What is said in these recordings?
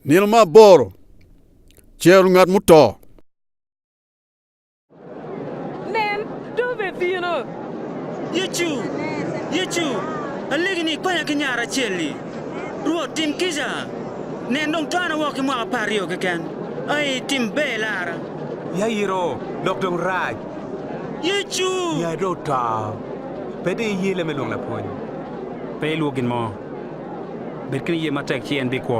Nino me aboro, Cero ngat muto. Nen, two be bino! Yecu, Yecu, alegi ni ikonya ki nyara acel-li. Rwot, tim kica! Nen, dong twana woko ki mwaka apar aryo keken. Ai, tim ber ilara. Ya iro, dok dong rac. Yecu! Ya iro, ta. Pe de iye leb me lwongo Lapwony. Pe ilwok gin mo. Bed ki niye matek ci en bikwo.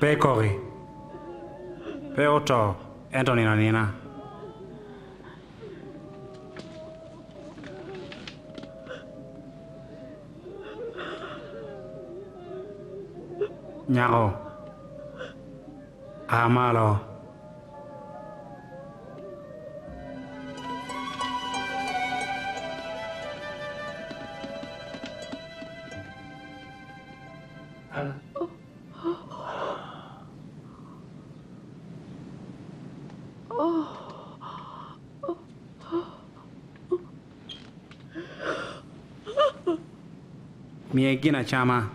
Pe ekoki. Pe oto, ento onino anina. Nyako, a malo. Miye gin acama,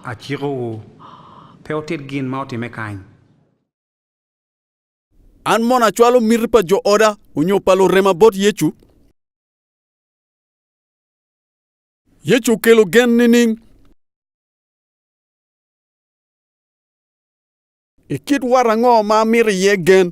acikowu. Pe wutit gin ma otimme kany. An mono acwalo miti pa jo oda onyo pa lurema bot Yecu? Yecu okelo gen nining? I kit wat ango ma amito iye gen?